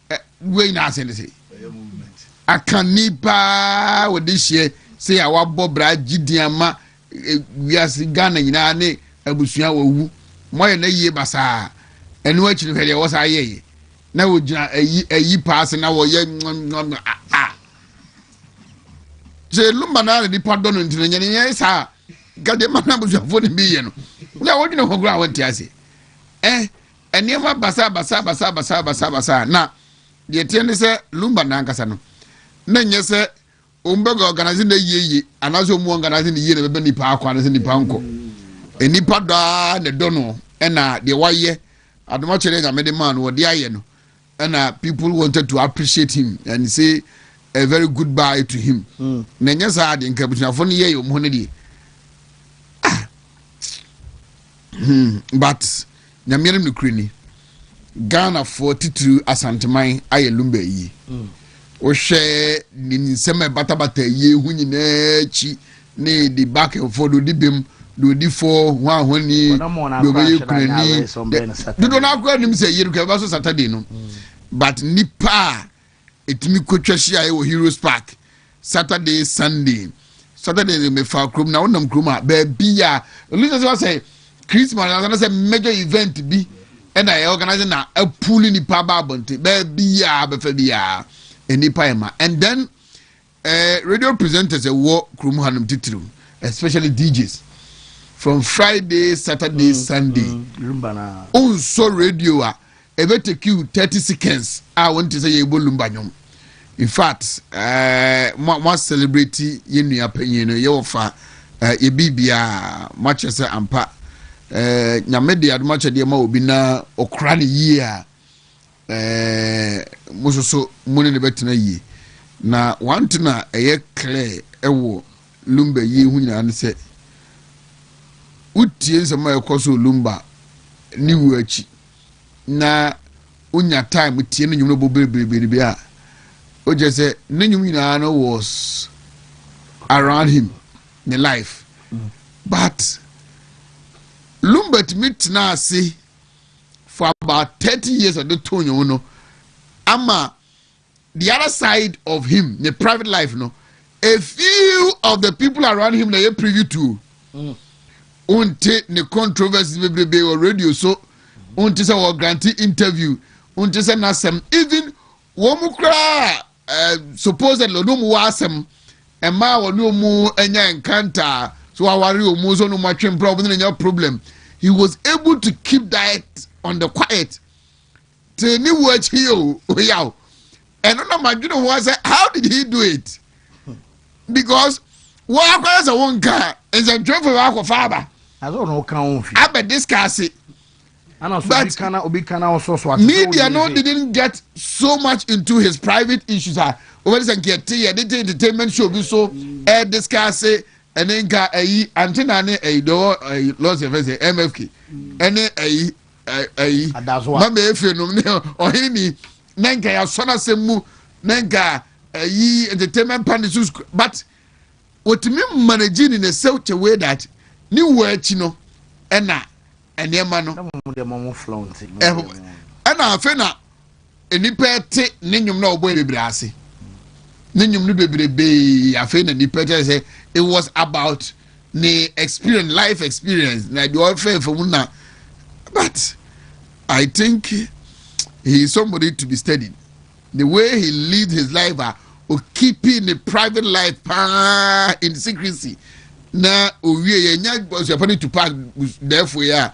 Eh, wei nyinaa ase ne se aka nipa wɔde hyeɛ sɛ a wabɔ bra gyidi ama eh, wiase ghana nyinaa ne abusua wɔwu moayɛ no ayie basaa ɛno akyi no hwɛ deɛ wɔ saa yɛyɛ na wɔgyina ayi ayi paa se na wɔyɛ a sɛ lumba no ara na nipa dɔ no nti no nyɛne yɛ saa nka deɛ ma no abusuafoɔ no bi yɛ no na wɔdwene ho koraa wɔnte ase eh Nneɛma basabasabasabasabasabasa a na deɛ ɛteɛ ne sɛ Lumba no ankasa no, na nyɛ sɛ wɔn bɛ organise no yie yie anaasɛ wɔn organise no yie na bɛbɛ nipa akɔ anaasɛ nipa nkɔ. Nipa dɔ ara na ɛdɔ no ɛna deɛ wayɛ adomakyɛ deɛ nyame de maa no wɔde ayɛ no Ɛna people wanted to appreciate him and say a very good bye to him. Mm. Na ɛnyɛ saa de nka abusuafo no yɛ yɛ ɔmo no deɛ. Ah. Hmm. But nyame anim no kure ni. Ghanafoɔ titiriw Asanteman ayɛ lumba yie. Mm. Wohwɛ ne nsɛm a ɛbatabata yie ho nyinaa akyi ne de bak mfɔ do de bem do de fɔ ho ahɔnni do bɛ yɛ kunani dodo no akora nim sɛ yere kɛbɛ so saturday no mm. but nipa a ɛtumi kɔtwa hyia wɔ heroes park saturday sunday saturday de mefa kurom na wonam kurom a baabi a ɛlisa sɛ wasɛ christmas ansa na sɛ major event bi ɛna ɛyɛ organize na apuli nipa ba abɔnten baabi a bɛfa bi a nipa ɛma and then Eh radio presenters ɛwɔ kurom hanom titiriw especially DJs from Friday Saturday mm, Sunday mm, onsɔ radio a ɛbɛ take you thirty seconds a wɔn ti sɛ yɛ ebo lumba nyom in fact eh, mo mo celebrate yɛn nua panyin no yɛ wɔ fa eh, yɛ biribia mo akyɛ sɛ ampa eh, nyame de adomakyɛdeɛ ma obi na ɔkora ne yie a. Ɛɛ, mo nso so mo ne no bɛtena yie. Na one thing a ɛyɛ clear wɔ Lumba yie ho nyinaa ne sɛ, wotie nsɛm a ɛkɔ so wɔ Lumba ne wuo akyi na wonya time tie ne nnwom no bɔ berebereberebe a, wokyɛ sɛ ne nnwom nyinaa no was around him, ne life. But Lumba tumi tena ase for about thirty years ɔde to nwom no ama the other side of him ne private life no a few of the people around him na yɛ preview to mm. wonte ne controversies bebrebe wɔ radio so wonte sɛ wɔ grante interview wonte sɛ n'asɛm even wɔn koraa Eh, supposedly ɔno mu wɔ asɛm ɛmaa ɔne ɔmu anya enkanta so waware ɔmu so ɔno mu atwe mpra ɔmo ne nya problem he was able to keep that on the quiet te ne wu akyi yɛ o oya o ɛno na ma dwene ho asɛ how did he do it because wɔn akɔyɛ sɛ wɔn nka nsɛntwerɛfo wɔn akɔfa aba. na sɛ ɔno kan ho fi. abɛ discuss it. but media no didn't get so much into his private issues a wɔbɛde sɛ nka ɛte yɛ de te entertainment show bi so ɛɛ discuss ɛne nka ɛyi antena ne ɛyi dɔwɔ ɛyi lɔsi ɛfɛ sɛ mfk ɛne ɛyi ɛyi mama efe nom ne ɔhen ni na nka yasɔ n'asɛm mu na nka ɛyi entertainment panel so but. wɔtumi manage ne ne sɛw kyɛ wei that ne wu akyi no ɛna nneɛma no ɛna afei na nnipa ɛte ne nnwom na ɔbɔ bebree ase ne nnwom no bebrebee afei na nnipa kyerɛ sɛ it was about ne experience life experience na deɛ ɔfɛ fam na but i think he is somebody to be studied. The way he lead his life a o keep ne private life paa in secrecy na owie yɛ nya busuafo ne tupa dɛɛfo yi a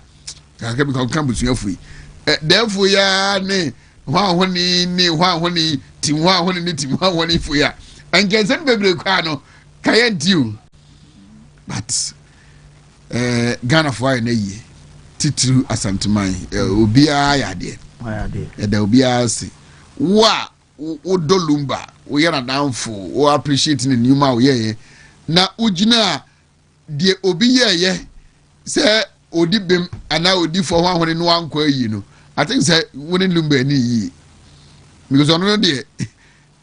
kakra bi kankan busuafo yi dɛɛfo yi a ne hɔn a hɔn ne hɔn a hɔn ti hɔn a hɔn ne ti hɔn a hɔn ne fo yi a nkɛnsɛn bebree kɔ ano kayɛ nti o but Eh, Ghanafoɔ ayɛ no ayie titiriw Asanteman eh, mm. obiara ayɛ adeɛ ɛda obiara ase wo a wodɔ lumba woyɛ nadamfo wo appreciate ne nneɛma a woyɛeɛ na wogyina deɛ obi yɛɛyɛ sɛ odi bem anaa odi fɔ ho ahone no ankɔ ayi no i think sɛ wo ne lumba ani yie because ɔno no deɛ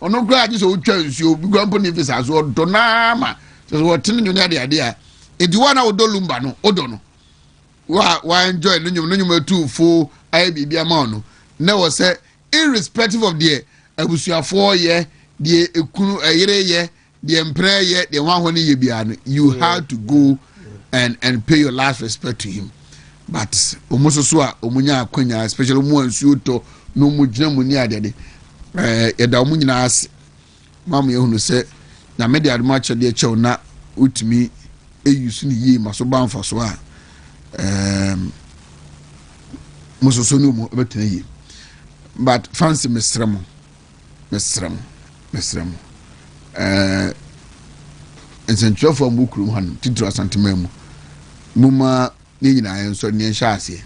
Ɔno koraa gye sɛ wotwa nsuo, obi koraa mpo ne visa so, ɔdɔ no ara ma kyerɛ sɛ wɔtene nnwom ne adeade a ɛdi hɔ a na wodɔ lumba no, wodɔ no wa wanjoy no nnwom no nnwom atu fo ayɛ biribi ama wo no na wɔ sɛ irrespective of deɛ abusuafoɔ yɛ deɛ ekunu ɛyere yɛ deɛ mpena yɛ deɛ wɔn ahɔ no yɛ biara no you yeah. had to go and and pay your last respect to him but wɔn nso so a wɔn nya akonya especially wɔn a nsuo tɔ na wɔn gyina mu ne adeɛ de ɛɛ yɛda wɔn nyinaa ase maa mo yɛ hunu sɛ nyame de adum akyɛdeɛ kyɛw na wotumi eyi so ne yie ma so ba nfa so a ɛɛm um, mo soso ne wɔn bɛtena yie but fancy mesrɛ mo. Mesrɛ mo, mesrɛ mo, ɛɛ, nsɛntwerɛfoɔ a wɔwɔ kurom hanom, titiri Asanteman mu, momma yɛn nyinaa yɛnsɔre na yɛnhyɛ aseɛ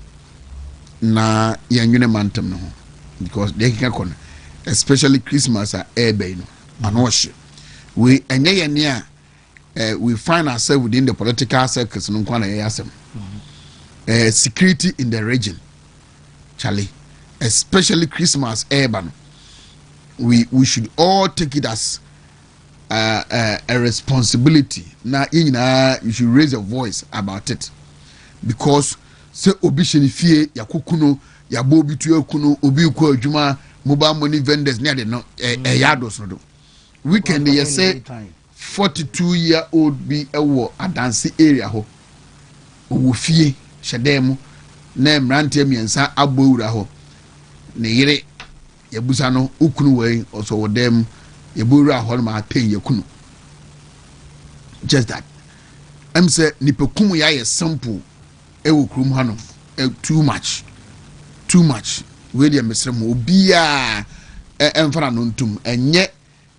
na yɛnwene mantam no ho because deɛ ɛkeka kɔ no especially Christmas a ɛreba yi no ano ɔhye wei ɛnyɛ yɛn ne a eh, we find ourselves within the political circles no nkwa na yɛyɛ asɛm eh, security in the region Charlie especially Christmas ɛɛba no we we should all take it as uh, uh, a responsibility na yɛn nyinaa you should raise a voice about it because sɛ obi hyɛ ne fie yakoko no yabɔ obi tu aku no obi kɔ adwuma mobile money vendors ne ade no ɛyɛ adosodo weekend yɛ sɛ Forty two year old bi wɔ Adanse area hɔ, ɔwɔ fie hyɛ dan mu na mmeranteɛ mmiɛnsa abɔ awura hɔ. Ne yere yɛbusa no wo kunu wɔ yi ɔsɛ ɔwɔ dan mu yɛbɔ awura hɔ no ma atɛn yɛ kunu just that ɛm sɛ nipa kum yɛ ayɛ simple ɛwɔ kurom hɔ no too much too much wei deɛ mesrɛ mu obiaa ɛmfa na no ntom ɛnyɛ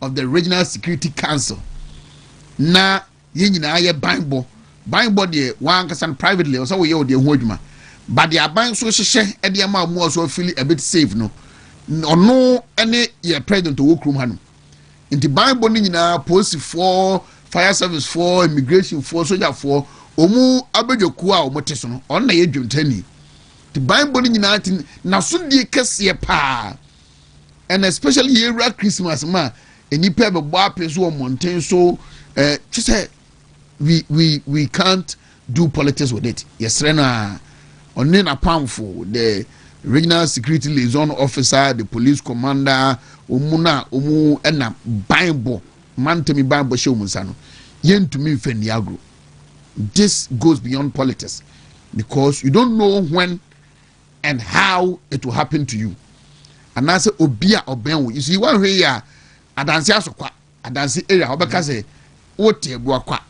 of the Regional Security Council na yɛn nyinaa yɛ banbɔ banbɔ deɛ wɔn ankasa no privately ɔsɛ wɔyɛ wɔn deɛ ho adwuma ba deɛ aban nso hyehyɛ ɛde ama wɔn a wɔso afili a bit safe no ɔno ɛne yɛ president ɔwɔ kurom ha no nti banbɔ no nyinaa polisifoɔ fire service foɔ immigration foɔ sogyafoɔ wɔn abadwakuo a wɔn te so no ɔno na yɛ dwomtani nti banbɔ no nyinaa ti n'asodie kɛseɛ paa. and especially yɛwura christmas ma nnipa bɛbɔ apɛ so wɔ mmɔnten so eh, kyɛ sɛ we we we can't do politics with it yɛsrɛ no a ɔne n'apamfo the regional security liaison officer the police commander wɔn no a wɔn ɛna banbɔ mantami banbɔ hyɛ wɔn nsa no yɛntumi nfɛ ni agro this goes beyond politics because you don't know when and how it will happen to you anaasɛ obi a ɔbɛn wo yisi wɔnhwɛ yi a adanse aso kwa adanse area wɔbɛka sɛ wote agua kwa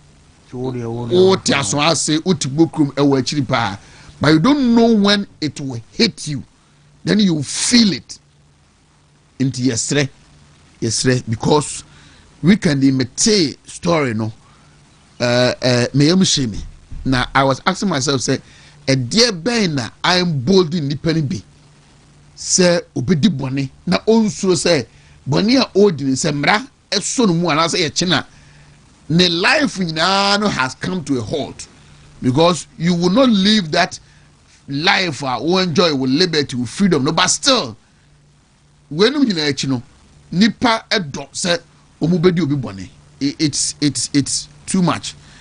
wote aso ase wote bokurom ɛwɔ akyiri paa but you don't know when it will hit you then you feel it Nti yɛsrɛ yɛsrɛ because weekend yi metee story no ɛɛ ɛɛ meyɛ mu hyɛ mi na I was asking myself sɛ ɛdeɛ bɛn na I am bold nipa no bi sɛ obedi bɔne na onsuro sɛ bɔne a ɔredi no sɛ mmara ɛsɔ no mu anaasɛ yɛkye no a ne life nyinaa no has come to a halt because you will not live that life a wo enjoy wo liberty wo freedom no but still weinom nyinaa akyi no nipa ɛdɔ sɛ wɔn bɛdi obi bɔne it's it's it's too much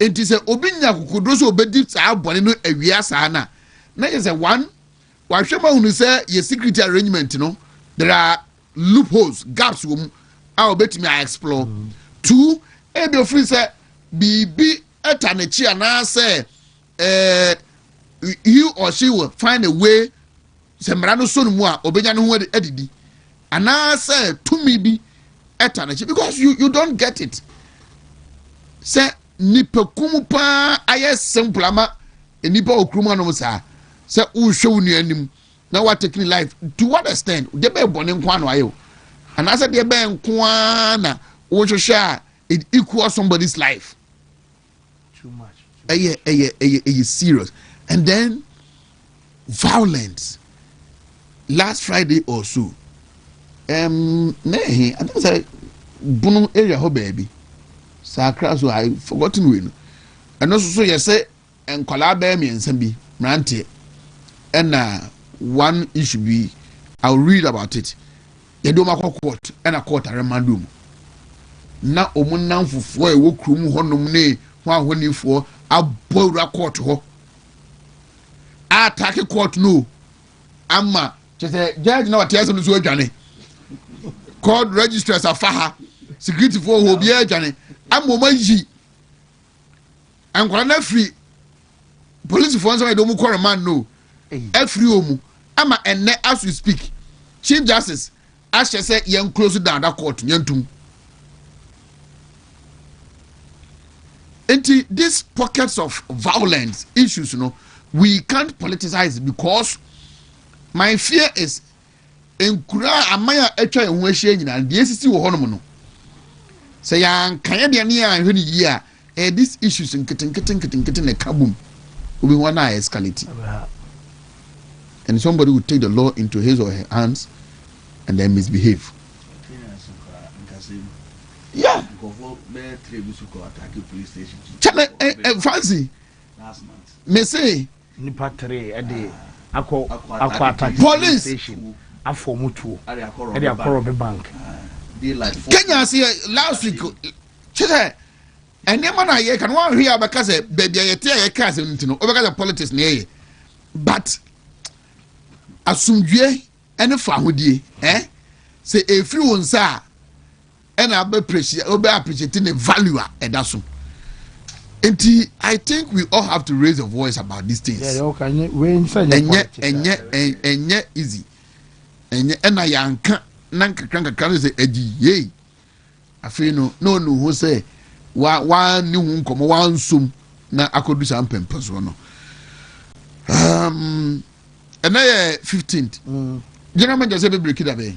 Enti sɛ obi nya akokoduru sɛ obedi saa bɔne no awia saa no a, na kyerɛ sɛ, one, wahwɛ mu ahunu sɛ yɛ security arrangement no, there are loopholes, gaps wɔ mu a obetumi a explore. Two, ebia ofiri sɛ biribi ta n'akyi anaasɛ eh, he or she will find a way sɛ mmara no sɔ no mu a ɔbɛnya ne ho adidi anaasɛ tumi bi ɛta n'akyi because you, you don't get it sɛ nipakum paa ayɛ simple ama nipa wɔ kurom anom saa sɛ wohwɛ wo nua anim na woatake ne life to what extent deɛ bɛyɛ bɔne nko ano ayɛ o anaasɛ deɛ bɛyɛ nko ara na wohwehwɛ a it equals somebody's life too much ɛyɛ ɛyɛ ɛyɛ ɛyɛ serious and then violence last friday or so ɛm na ɛhe atam sɛ bono area hɔ baabi sakra so i forgotten wei no ɛno nso so yɛ sɛ nkwadaa bɛyɛ mmiɛnsa bi mmeranteɛ ɛna one issue bi i will read about it Yɛde wɔn akɔ court ɛna court aremande wɔn na wɔn nnamfofoɔ a ɛwɔ kurom hɔnom ne ho ahɔnifoɔ abɔ awura court hɔ ataake court no ama kyɛ sɛ judge na wate asɛm no so adwane court registrars afa ha securityfoɔ hɔ obiara adwane ama wɔn ayi Nkwadaa no afiri polisifoɔ nsɛm ayɛ de wɔn kɔ remand no afiri wɔn mu ama ɛnɛ as we speak chief justice ahyɛ sɛ yɛn close down da court yɛn tum nti this pockets of violence issues no we can't politicize because my fear is nkuraa a aman a atwa yɛn ho ahyia nyinaa no, deɛ esisi wɔ hɔnom no, sɛ yɛanka yɛ deɛ ne yɛanhwɛ no yie a, ɛyɛ these issues nketenkete nketenkete na ɛka bom obi ho na escalate and somebody will take the law into his or her hands and then misbehave. Yeah. Kyɛnɛ ɛ ɛ fancy. Me se. Nnipa tere de akɔ Akwata Police Station afa wɔn tuo de akɔ Robe Bank. Kenya ase yɛ last week kyɛ sɛ nneɛma na yɛ kan wɔn ahwɛ a bɛka sɛ baabi a yɛte a yɛka asɛm no ti no wɔbɛka sɛ politics na yɛyɛ but asomdwie ne fahodie eh sɛ efiri wɔn nsa a ɛna abɛpresi wobɛ appreciate ne value a ɛda so nti i think we all have to raise the voice about these things ɛnyɛ ɛnyɛ ɛnyɛ easy ɛnyɛ ɛna yɛanka na nkakra nkakra no sɛ agyi yei afei no na ɔnu ho sɛ wa wa ne ho nkɔmmɔ wa nsom na akɔdu saa mpɛmpɛ soɔ no um, ɛnɛ yɛ 15 mm. general manager sɛ bɛbreki da bɛn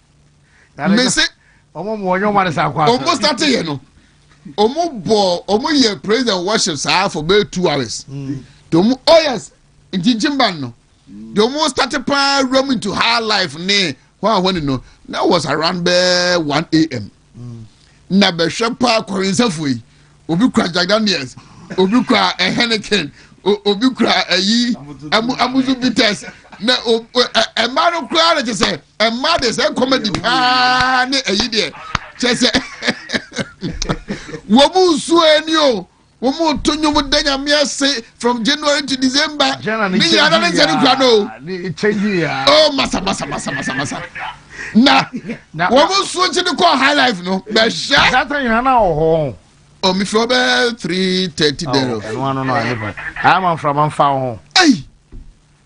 mese ɔmo starte yɛ no ɔmo bɔ ɔmo yɛ praise and worship saa for bɛyɛ two hours mm. de ɔmo oh yes nkyinkyin ban no de ɔmo starte paa wura mu into high life ne hwan hwan no that was around bɛɛ one a.m. na bɛhwɛ paa kɔrensɛfoɔ yi obi kura jack daniels obi kura eh, henneken obi kura ayi eh, amusu bitters na eh, mmaa no koraa na kyɛ sɛ mmaa deɛ sɛ comedy paa ne ayi deɛ kyɛ sɛ wɔn mu nsuo ani o. wɔn reto nnwom da nyame ase from january to december ne nyinaa na ne nsɛ no kura no o oh, masa masa masa masa masa na wɔn nsuo kyi no kɔɔ high life no bɛhyɛ data nyinaa na wɔ hɔ o mi fɛ ɔbɛ three thirty dɛrɛ o ɛnu ano no ale pa ayɛ ma nframa nfa ho ɛyi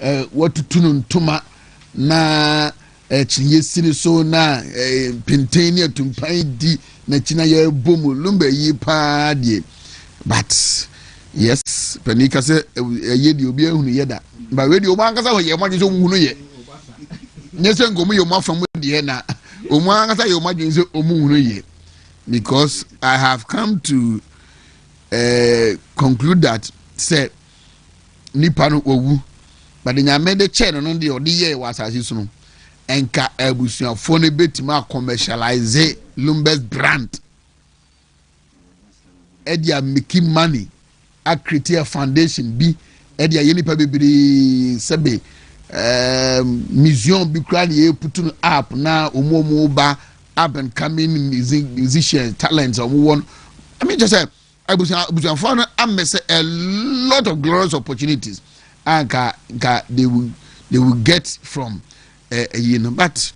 Wɔatutu no ntoma na kyiniiɛ si ne so na mpenten ne atumpan di n'akyi na yɛbɔ mu lumba yi paa deɛ but yes panin ka sɛ ɛyɛ deɛ obi ahunu yɛ da ba wei deɛ wɔn ankasa wɔ yɛ wɔn adwene sɛ wɔn hunu yɛ nyɛ sɛ nka wɔn yɛ wɔn afa mu deɛ na wɔn ankasa yɛ wɔn adwene sɛ wɔn hunu yɛ because I have come to uh, conclude that sɛ nipa no wawu but de nyame de kyɛɛ no no deɛ ɔde yɛɛ wɔ asase so no nka abusuafoɔ no bɛtumi akɔmɛhyɛlaise lumbers brand ɛde a miki money akriti a foundation bi ɛde ayɛ nipa bebree sɛbe ɛɛm um, museum bi kura ne yɛ putu no app na wɔn a wɔn ba up and coming musicians talents wɔn wɔ no ɛmi kyɛ sɛ Abusua abusuafoɔ no amese a lot of glorious opportunities a nka nka they will they will get from ɛyi eh, no but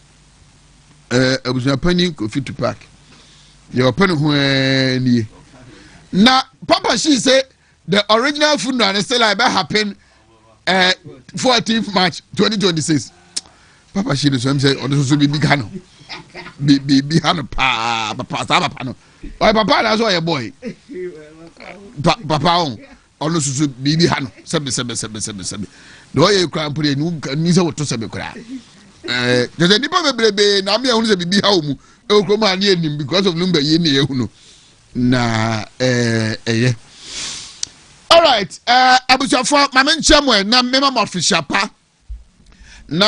eh, abusua panyin Kofi Tupac deɛ ɔpɛ ne ho eh, nie na papa shi sɛ the original funeral no still a ɛbɛ happen. ɛɛ fourteenth march twenty twenty six papa si ne so ɛmu sɛ ɔno soso biribi ka no biribi ha no paa papa saa papa no ɔyɛ papa anaasɛ ɔyɛ bɔɔl pa papa o ɔno soso biribi ha no sɛbi sɛbi sɛbi sɛbi sɛbi na ɔyɛ ekura mpere enu ni sɛ wɔto sɛbi kura ɛɛ kyerɛ nipa bebrebe na ame ɛho sɛ biribi ha wɔn mu ɛwɔ kurom ha ne yɛ nim because of number yie ne yɛ hu no. na ɛyɛ alright abusuafoɔ ma menkyɛ mo ɛ na mema mo afehyia pa na